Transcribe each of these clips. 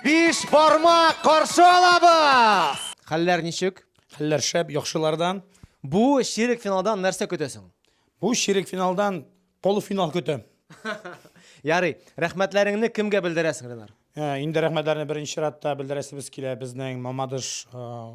Биш бармак каршы алабыз! Хәлләр ничек? Хәлләр шәп, яхшылардан. Бу ширек финалдан нәрсә көтәсең? Бу ширек финалдан полуфинал көтәм. Ярый, рәхмәтләреңне кемгә белдерәсең, Ренар? Ә, Инде рәхмәтләрне беренче чиратта белдерәсебез килә безнең Мамадыш а,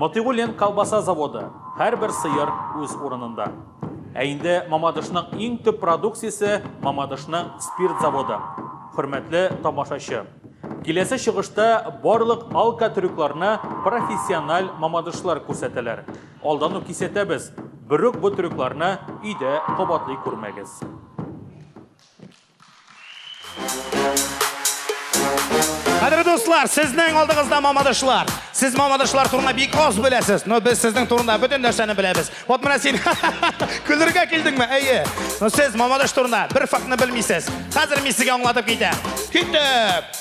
Мотыйгуллин колбаса заводы, һәрбер сыер үз урынында. Ә инде Мамадышның иң төп продукциясе, Мамадышның спирт заводы. Хөрмәтле тамашачы! Киләсе чыгышта барлык алкотрюкларны профессиональ мамадышлар күрсәтәләр. Алдан ук кисәтәбез, берүк бу трюкларны өйдә кабатлый күрмәгез. Хәдер дуслар, сезнең алдыгызда мамадышлар. Сез мамадышлар турында бик аз беләсез, но без сезнең турында бөтен нәрсәне беләбез. Вот менә син көлергә килдеңме? Әйе. Но сез мамадыш турында бер фактны белмисез. Хәзер мин сезгә аңлатып китәм. Китеп!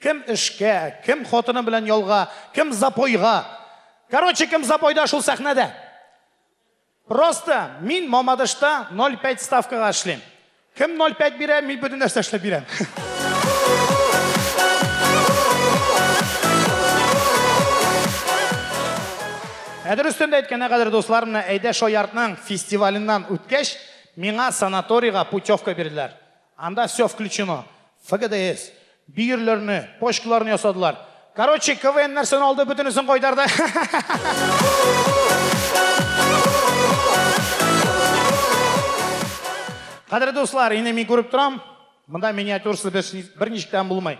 Кем эшкә, кем хатыны белән ялга, кем запойга. Короче, кем запойда, шул сәхнәдә. Просто мин Мамадышта 0,5 ставкага эшлим. Кем 0,5 бирә, мин бөтен нәрсә эшләп бирәм. Ә дөрестән дә әйткәндә, кадерле дуслар, менә Әйдә шаяртның фестиваленнан үткәч, миңа санаторийга путевка бирделәр. Анда все включено. ФГДС, бөерләрне, почкаларны ясадылар. Короче, КВН нәрсәне алды, бөтенесен кайтарды. Кадерле дуслар, инде мин күреп торам, монда миниатюрасы берничек тә булмый.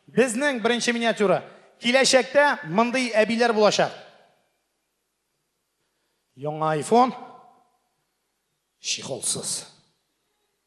Безнең беренче миниатюра. Киләчәктә мондый әбиләр булачак. Яңа iPhone чехолсыз.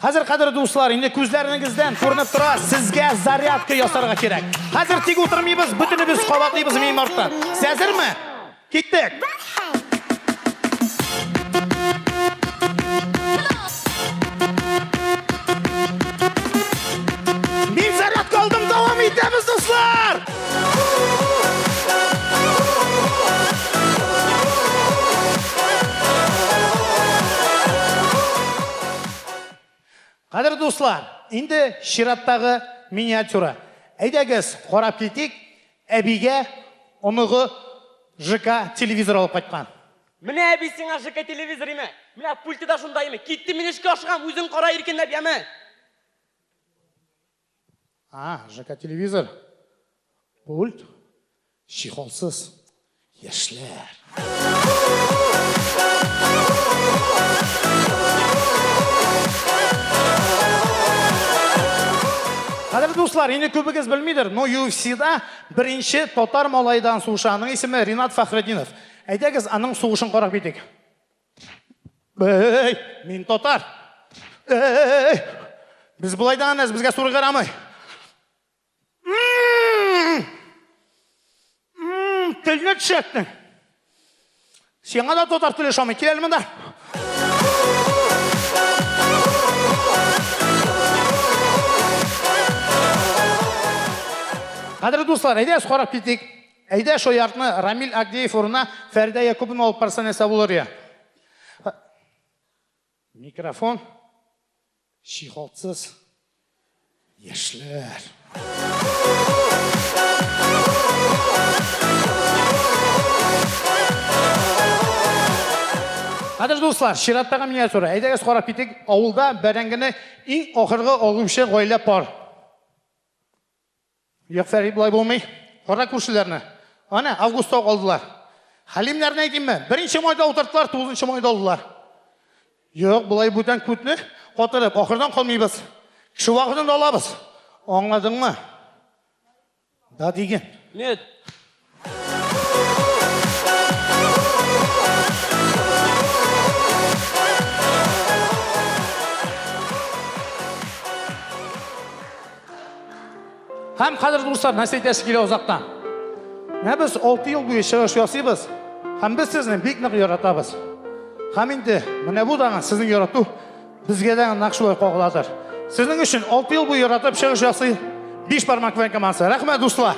Хәзер, кадерле дуслар, инде күзләренегездән күренеп тора, сезгә зарядка ясарга кирәк. Хәзер тик утырмыйбыз, бөтенебез кабатлыйбыз мин артта. Сез әзерме? Киттек! Мин зарядка алдым, дәвам итәбез, дуслар! Кадерле дуслар, инде чираттагы миниатюра. Әйдәгез, карап китик, әбигә оныгы ЖК телевизор алып кайткан. Менә әби сиңа ЖК телевизор име? Менә пульты да шунда име? Киттем мин эшкә ашыгам, үзең кара иркенләп, яме! А, ЖК телевизор. Пульт. Чехолсыз. Яшьләр. Кадерле дуслар, инде күбегез белмидер, но UFC-да беренче татар малайдан сугыша. Аның исеме Ринат Фәхреддинов. Әйдәгез, аның сугышын карап китик. Эй, мин татар. Эй, без былай да әнәс, безгә суры карамый. Телне төшәттең. Сиңа да татар теле шамый, кил әле монда. Хәзер дуслар, әйдәгез карап китик. Әйдә шо яртны Рамил Агдеев урынына Фәридә Якубовна алып барса нәрсә булыр я? Микрофон чиһалтсыз яшьләр. Кадер дуслар, чираттагы миниатюра. Әйдәгез карап китик, авылда бәрәңгене иң ахыргы алучы гаилә пар. Мияфәри болай булмый. Кара күршеләрне. Ана, августта ук алдылар. Хәлимнәрне әйтимме? Беренче майда утырттылар, тугызынчы майда алдылар. Юк, болай бүтән күтне катырып, ахырдан калмыйбыз. Кеше вакытын да алабыз. Аңладыңмы? Да диген. Нет. Һәм хәзер дуслар, нәрсә әйтәсе килә озактан. Менә без 6 ел буе чыгыш ясыйбыз, һәм без сезне бик нык яратабыз. Һәм инде менә бу дагы сезнең ярату Безгә дә нәкъ шулай кагыладыр. Сезнең өчен 6 ел буе яратып чыгыш ясый биш бармак белән командасы. Рәхмәт, дуслар!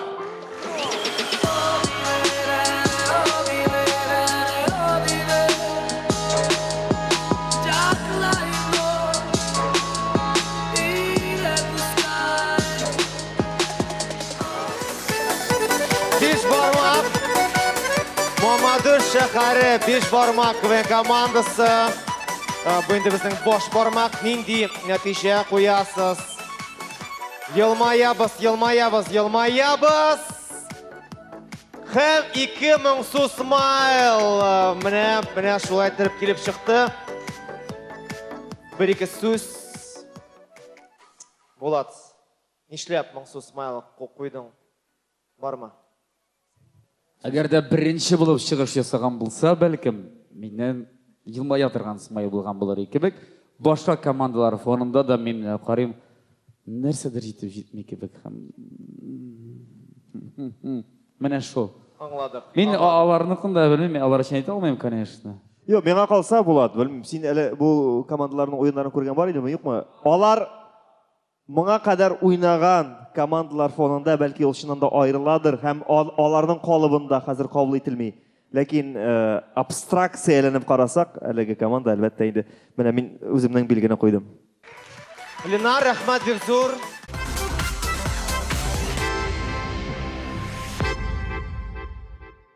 Биш бармак. Мамадыш шәһәре биш бармак квен командасы. Ә, Бу инде безнең баш бармак. Нинди нәтиҗә куясыз? Елмаябыз, елмаябыз, елмаябыз. Һәм 2000 су смайл. Ә, Менә, менә шулай итеп килеп чыкты. Бер-ике сүз. Булат. Нишләп моңсу смайлык куйдың, бармы? Әгәр дә беренче булып чыгыш ясаган булса, бәлкем, миннән елмая торган смайл булган булыр иде кебек. Башка командалар фонында да мин менә карыйм, нәрсәдер җитеп җитми кебек һәм менә шул. Аңладык. Мин аларныкын да белмим, мин алар өчен әйтә алмыйм, конечно. Юк, миңа калса, Булат, белмим, син әле бу командаларның уеннарын күргән бар идеме, юкмы? Алар Моңа кадәр уйнаган командалар фонында, бәлки ул чыннан да аерыладыр һәм аларның калыбында хәзер кабул ителми. Ләкин абстракция әйләнеп карасак, әлеге команда, әлбәттә инде, менә мин үземнең билгене куйдым. Ленар, рәхмәт бик зур!